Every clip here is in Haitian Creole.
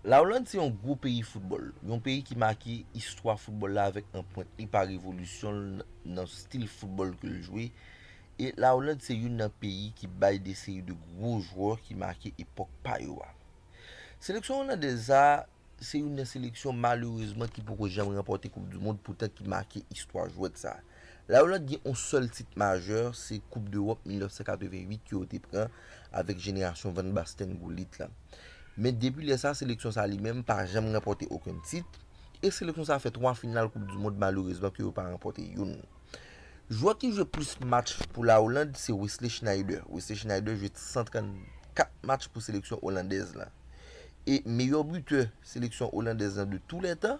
La Oland se yon gwo peyi foutbòl, yon peyi ki make istwa foutbòl la avèk anpwent li pa revolisyon l nan stil foutbòl ke l jwe, e La Oland se youn nan peyi ki bay de seri de gwo jwè ki make epòk pa yo a. Seleksyon Olandèz sa a, se youn nan seleksyon malerezman ki poko janm ranpòte koupdimond poutan ki make istwa jwèt sa a. La Olande gen yon sèl tit majè, se koup dEwòp 1988 ke yo te pran avèk jenerasyon Van Basten, Gullit la. Men depi lè sa seleksyon sa li menm pa janm ranpòte okenn tit, e seleksyon sa fè 3 final koup du mond malerezman ke yo pa ranpòte youn. Jwè ki jwe plis match pou La Olande se Wesley Sneijder. Wesley Sneijder jwe 134 match pou seleksyon Olandèz la. E meyò butè seleksyon Olandèz la de tou lè tan,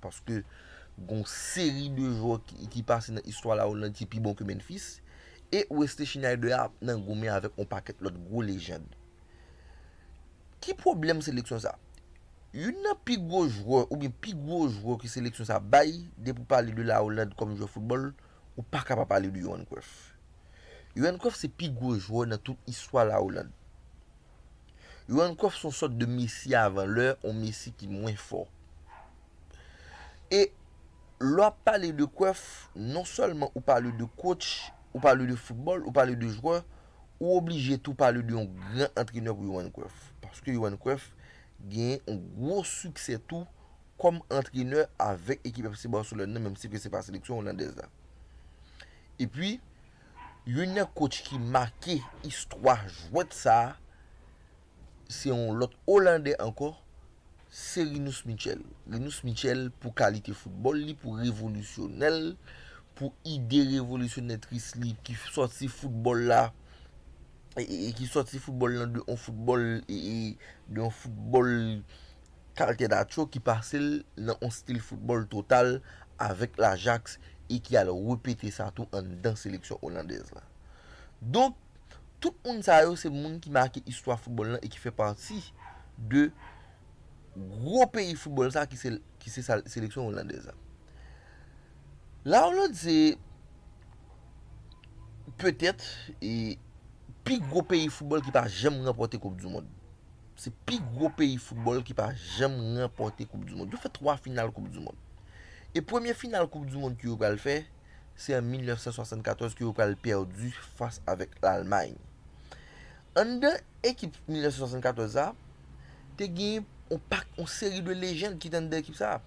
Paske gon seri de jwè ki pase nan istwa la Hollande ki pi bon ke Memphis. E Wesley Sneijder ap nan goumen avèk yon pakèt lòt gwo lejand. Ki pwoblèm seleksyon sa? Youn nan pi gwo jwè oubyen pi gwo jwè ke seleksyon sa bay, depi ou pale de la Hollande kòm jwè foutbòl, ou pa ka pa pale de Yohan Cruyff. Yohan Cruyff se pi gwo jwè nan tout istwa la Hollande. Yohan Cruyff son sòt de Messi avan lè, on Messi ki mwen fò. E lè w ap pale de Cruyff, non sèlman ou pale de coach, ou pale de football, ou pale de jwè, ou oblije tou pale de yon gran antrenè pou Yohan Cruyff. Paske Yohan Cruyff genyen on gwo siksè tou kòm antrenè avèk ekip FC Barcelone nan menm si ke se pa seleksyon Olandèz la. E pi, Youn nan kotch ki make istwa jwèt sa a se yon lòt Olandè ankò, se Rinus Michel. Rinus Michel pou kalite foutbòl li, pou revolisyonè l, pou ide revolisyonètris li ki sòti foutbòl la, ki sòti foutbòl lan de yon foutbòl, de yon foutbòl Kalte Nacho ki pase l nan yon stil foutbòl total avèk l'Ajax e ki al repete sa tou anndan seleksyon olandèz la. Donk, tout moun sa yo se moun ki make istwa foutbòl lan e ki fè pati de gwo peyi foutbòl sa ki se seleksyon olandèz la. La Oland se petèt pi gwo peyi foutbòl ki pa janm ranpòte koup di mond. Se pi gwo peyi foutbòl ki pa janm ranpòte koup du mond. Yo fè 3 final koup du mond. E premye final koup du mond ke yo pral fè, se an 1974 ke yo pral pèdi fas avèk Lalmay. Anndan ekip 1974 sa, te gen yon pak, yon seri de lejand ki te anndan ekip sa.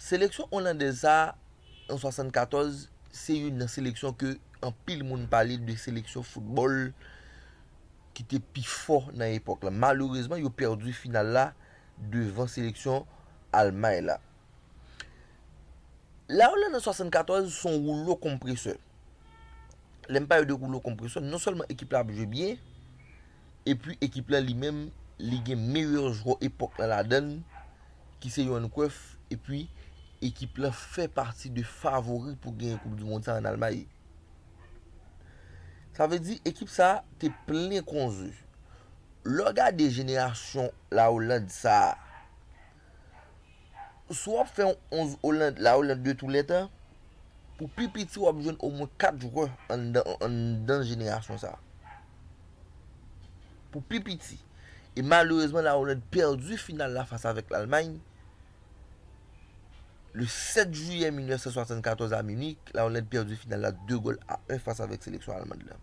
Seleksyon Olandèz sa a an 74 se youn nan seleksyon ke anpil moun pale de seleksyon foutbòl ki te pi fò nan epòk la. Malerezman yo pèdi final la devan seleksyon Almay la. La Oland an 74 se yon woulo konpresè. Lè m pale de woulo konpresè, non sèlman ekip la ap jwe byen, Epi ekip la li menm li gen meyè jwè epòk la ladann ki se Yohan Cruyff epi ekip la fè pati de favori pou genyen koup dimond sa an Almay. Sa vle di ekip sa te plen konze. Lè w gade jenerasyon la Hollande sa a. Si w ap fè yon 11 Oland, La Oland de tou lè tan, pou pi piti w ap jwenn omwen 4 jwè anndan jenerasyon sa. Pou pi piti. E malerezman La Oland pèdi final la fas avèk Lalmay le 7 jiyè 1974 a Minik. La Oland pèdi final la 2 gòl a 1 fas avèk seleksyon Almand la.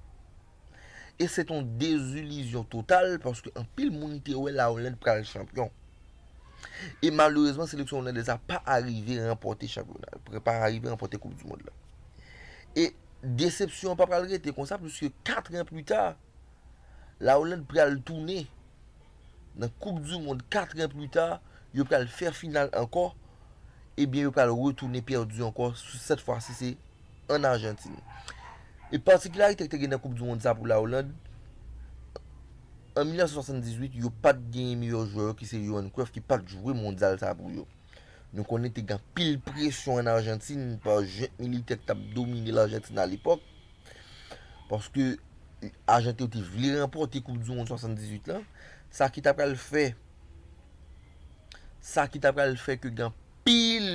e se t yon dezilizyon total paske anpil moun te wè La Hollande pral chanpyon. E malerezman seleksyon Hollandèz la pa arive ranpòte chanpyona, pa arive ranpòte koup du mond la. E desepsyon an pa pral rete konsa puiske 4 an pli ta La Hollande pral tounen nan koup du mond 4 an plus tard yo pral fè final ankò ebyen yo pral retounen pèdi ankò sèt fwa si se an Arjantin e patikilarite ki te gen nan koup du mond sa pou la Hollande an 1978 yo pat genyen meyè jwè yo ki se Johan Cruyff ki pat jwe mondyal sa pou yo nou konnen te gen anpil presyon an Arjantin pa jent militè ki tap domine l Arjantin alepòk. Paske Argentine yo te vle ranpòte koup du mond 78 lan, sa ki ta pral fè sa ki ta pral fè ke gen anpil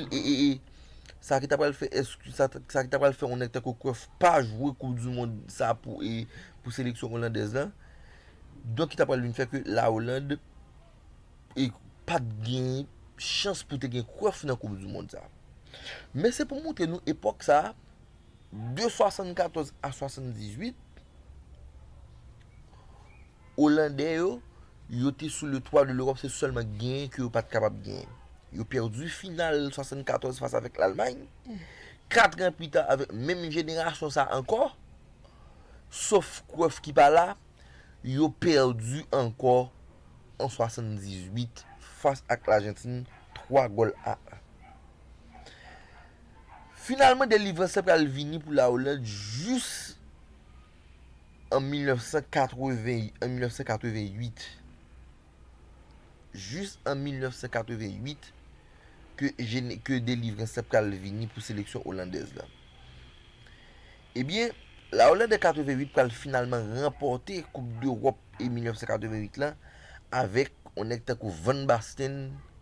sa ki ta pral fè sa ki ta pral fè yon nèg tankou Cruyff pa jwe koup du mond sa pou seleksyon Olandèz lan. Donk ki ta pral vin fè ke la Hollande pat gen chans pou te gen Cruyff nan koup du mond sa. Men se pou montre nou epòk sa De 74 a 78, Olandè yo, yo te sou le twa de Lewòp, se sèlman genyen ke yo pat kapab genyen. Yo pèdi final 74 fas avèk Lalmay, katran pita avèk menm jenerasyon sa ankò, sof Cruyff ki pa la, yo pèdi ankò an 78 fas ak Lajantin 3 gòl a 1. Finalman delivrans la pral vini pou la Oland jis an 1988. Jis an 1988 ke delivrans la pral vini pou seleksyon Olandèz la. Ebyen, la Oland an 88 pral finalman ranpòte koup dEròp e 1988 la avèk yon nèg tankou Van Basten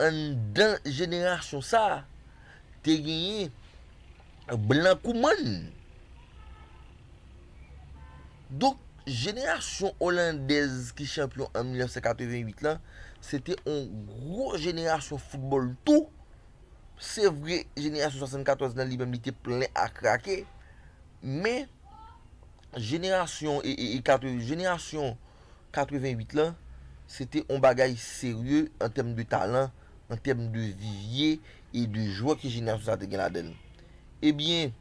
anndan jenerasyon sa a, te genyen blan kou mòn. Donk, jenerasyon olandèz ki chanpyon an 1988 lan, se te yon gwo jenerasyon foutbòl tou. Se vre, jenerasyon 74 lan li menm li te plen a krake. Men, jenerasyon, jenerasyon. 88 lan, se te yon bagay serye an tèm de talan, an tèm de vivye e de jwè ke jenerasyon sa te gen ladan l. Ebyen,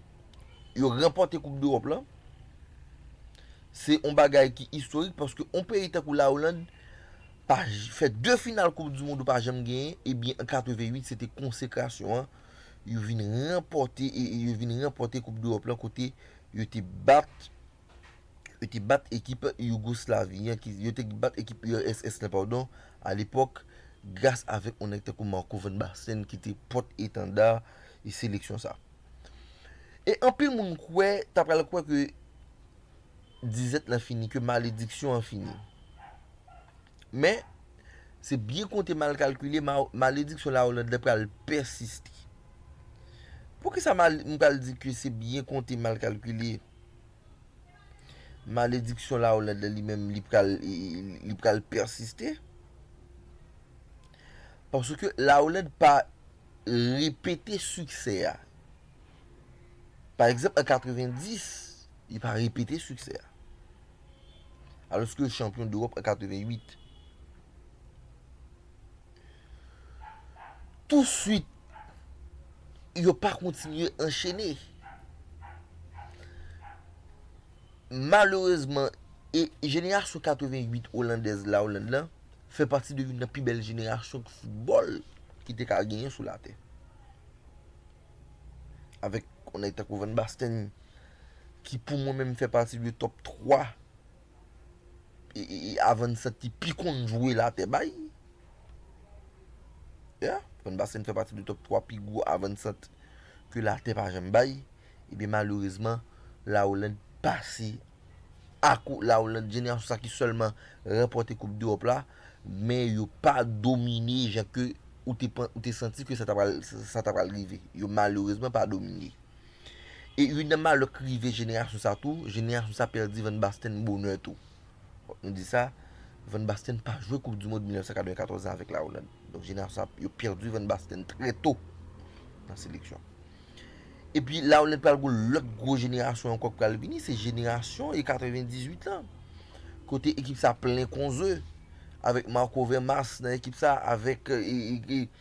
yo ranpòte koup dEròp lan, se yon bagay ki istorik paske yon peyi tankou la Oland pa fè 2 final koup du mond ou pa janm genyen, ebyen an 88 se te konsekrasyon an, yo vin ranpòte, yo vin ranpòte koup dEròp lan kote yo te bat yo te bat ekip Yougoslavie an ki yo te bat ekip URSS lan padon a lepòk gras avèk yon nèg tankou Marco van Basten ki te pòt etanda e seleksyon sa. E anpil moun kwè ta pral kwè ke dizèt lan fini, ke malediksyon an fini. Men, se byen konte mal kalkile malediksyon la Hollande lan pral pèsiste. Poukisa mal m pral di ke se byen konte mal kalkile? Malediksyon la Hollande la li menm li pral li pral pèsiste. Paske la Hollande pa repete siksè a. Pa egzanp an 90, li pa repete siksè a. Alòske l chanpyon dEwòp an 88. Touswit, yo pa kontinye anchene. Malerezman, e jenerasyon 88 Olandèz la, Oland lan, fè pati de youn nan pi bèl jenerasyon foutbòl ki te ka genyen sou latè. Avèk yon nèg tankou Van Basten ki pou mwen menm fè pati de tòp 3. Avansant ki pi konn jwe la te bay. Yeah, Van Basten fè pati de top 3 pi gwo avansant ke la te pa janm bay. Ebyen malerezman, La Hollande pase ak ou. La Hollande jenerasyon sa ki sèlman ranpòte koup dEròp la, men yo pa domine jan ke ou te santi ke sa ta pral rive. Yo malerezman pa domine. E youn nan malè k rive jenerasyon sa tou, jenerasyon sa pèdi Van Basten bonè tou. Fòk nou di sa, Van Basten pa jwe koup dimond 1994 la avèk la Oland. Donk jenerasyon sa yo pèdi Van Basten trè to nan seleksyon. E pi la Oland pral goun lòt gwo jenerasyon ankò k pral vini, se jenerasyon e 98 lan. Kote ekip sa plen konze avèk Marco Vermaas nan ekip sa avèk.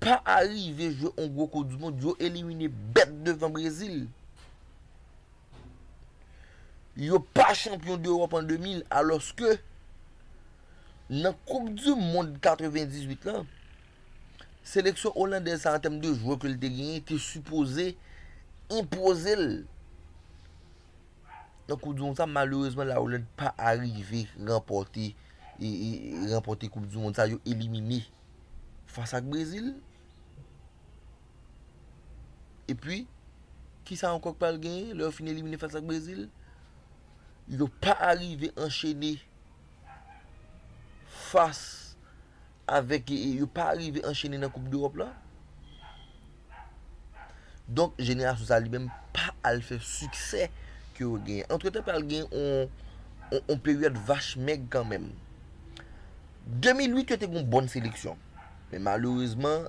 pa arive jwe yon gwo koup du mond yo elimine bèt devan Brezil yo pa chanpyon d'Europe an 2000 alòske nan koup du mond 98 lan seleksyon Olandèz sa an tèm de jwè ke li te genyen te sipoze enpozel Nan koup du mond sa malerezman la Hollande pa arive ranpòte ranpòte koup du mond sa yo elimine fas ak Brezil epi kisa ankò ki pral genyen lè yo fin elimine fas ak Brezil yo pa arive anchene fas avèk yo pa rive anchene nan koup dEròp la donk jenerasyon sa li menm pa al fè siksè ke yo genyen antretan pral gen yon peryòd vach mèg kanmenm 2008 yo te gen yon bòn seleksyon men malerezman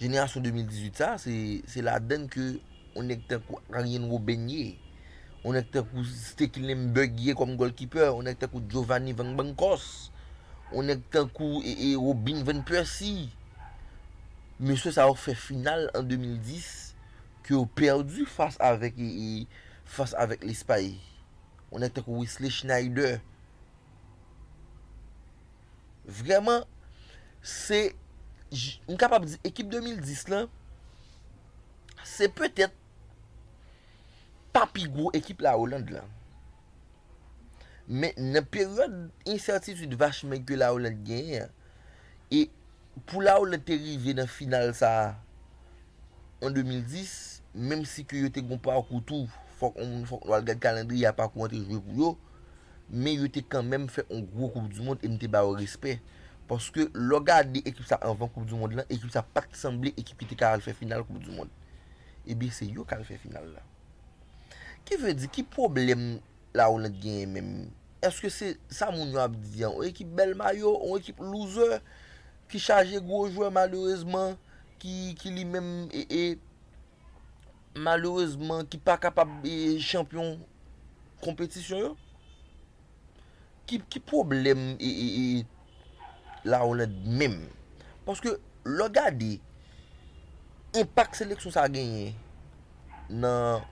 Jenerasyon 2018 sa, se ladann ke yon nèg tankou Aryen Woben ye, yon nèg tankou Stekelenm Bug ye kòm gòlkipè, yon nèg tankou Jovani Van Bankòs, yon nèg tankou Robin Van Pèsi. Mesye sa yo fè final an 2010 ke yo pèdi fas avèk Lespay. Yon nèg tankou Wesley Schneider. Vrèman, se, m kapab di ekip 2010 lan, se petèt pa pi gwo ekip la Oland lan. Men, nan peryòd ensètitid vachmèg ke la Oland genyen an, e pou la Oland te rive nan final sa a an 2010, menm si ke yo te gen yon pakou tou, fòk nou al gad kalandriye a pakou an te jwe pou yo, men yo te kanmenm fè yon gwo koup du mond e m te ba yo respè paske lè w gade ekip sa anvan koup du mond lan ekip sa pa t sanble ekip ki te ka al fè final koup du mond ebyen se yo k al fè final la ki vle di ki pwoblèm la Hollande genyen menm èske se sa moun yo ap di an yon ekip bèl mayo yon ekip louzè ki chaje gwo jwè malerezman ki li menm e e. malerezman ki pa kapab chanpyon konpetisyon yo. Ki pwoblèm la Hollande menm? Paske lè w gade enpak seleksyon sa genyen nan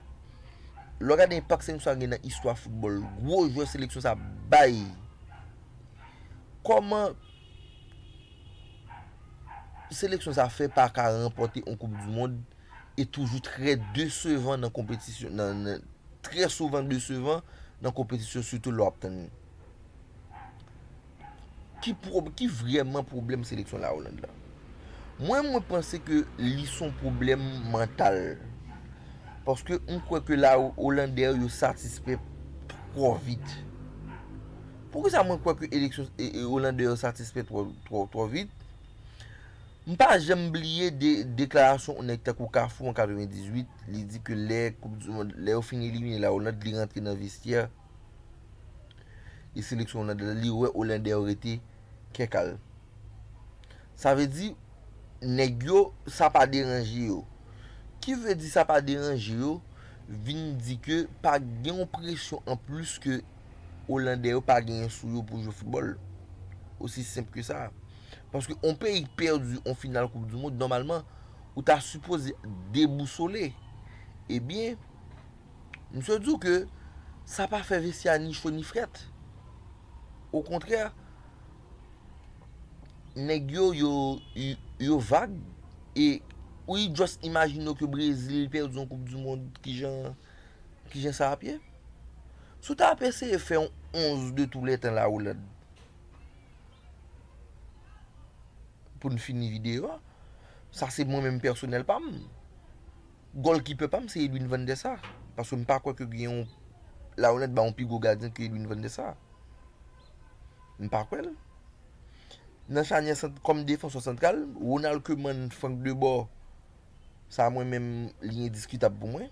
lè w gade enpak seleksyon sa genyen nan istwa foutbòl, gwo jwè seleksyon sa bay, kòman. Seleksyon sa fè pa ka ranpòte on koup du mond e toujou trè desevan nan konpetisyon nan trè souvan desevan nan konpetisyon sitou lè wap tann li. Ki pwob ki vrèman pwoblèm seleksyon la Oland la? Mwen mwen panse ke li son pwoblèm mantal. Paske m kwè ke la Olandè yo satisfè twò vit. Poukisa mwen kwè ke eleksyon Roland Dehors satisfè twò vit? M pa janm bliye deklarasyon yon nèg tankou Kafou an 98, li di ke lè koup di mond, lè yo fin elimine la Hollande, li rantre nan vestyè e seleksyon Hollande la, li wè Roland Dehors rete kè kal. Sa vle di, nèg yo, sa pa deranje yo. Ki vle di sa pa deranje yo, vin di ke pa gen yon presyon anplis ke. Olandè yo pa genyen sou yo pou jwe foutbòl. Osi senp ke sa. Paske yon peyi ki pèdi yon final koup di mond, nòmalman, ou ta sipoze debousole. Ebyen, msye di w ke sa pa fè vesti a ni cho ni frèt. Okontrè, nèg yo, yo vag. E ou just imajine w ke Brezil pèdi yon koup di mond, kijan sa ap ye? Si w ta ap eseye fè yon 11 de tou lè tan la Hollande pou n fini videyo a, sa se mwen menm pèsonèl pa m, gòlkipè pa m se Edwin van der Sar paske m pa kwè ke gen yon la Hollande ba yon pi gwo gadyen ke Edwin van der Sar. M pa kwè l. Nan chanyè sant kòm defansè santral, Ronald Koeman, Frank Debor sa mwen menm li endiskitab pou mwen.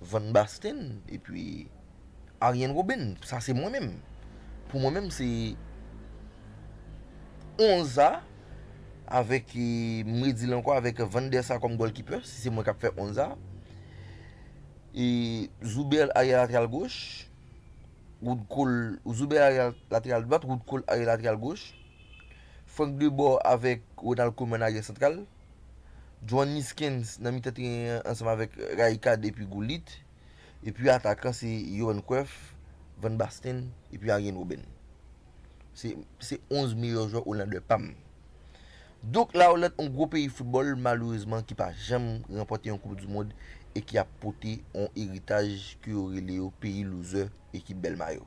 Van Basten epi Aryen Roben sa se mwen menm pou mwen menm se onza avèk m redi l ankò avèk van dè sa kòm gòlkipè si se mwen kap fè onza e zoubè aryè lateral goch wout kol zoubè aryè lateral dwat wout kol aryè lateral goch frank debò avèk ronald kouman aryè santral Juan Niskens nan mitan teren an ansanm avèk Rijkaard epi Gullit, epi atakan se Johan Cruyff, Van Basten epi Arjen Robben. Se se 11 meyè jwè Olandè pa m. Donk La Oland yon gwo peyi foutbòl malerezman ki pa janm ranpòte yon koup du mond e ki ap pote yon eritaj ke yo rele yo peyi loser ekip bèl mayo.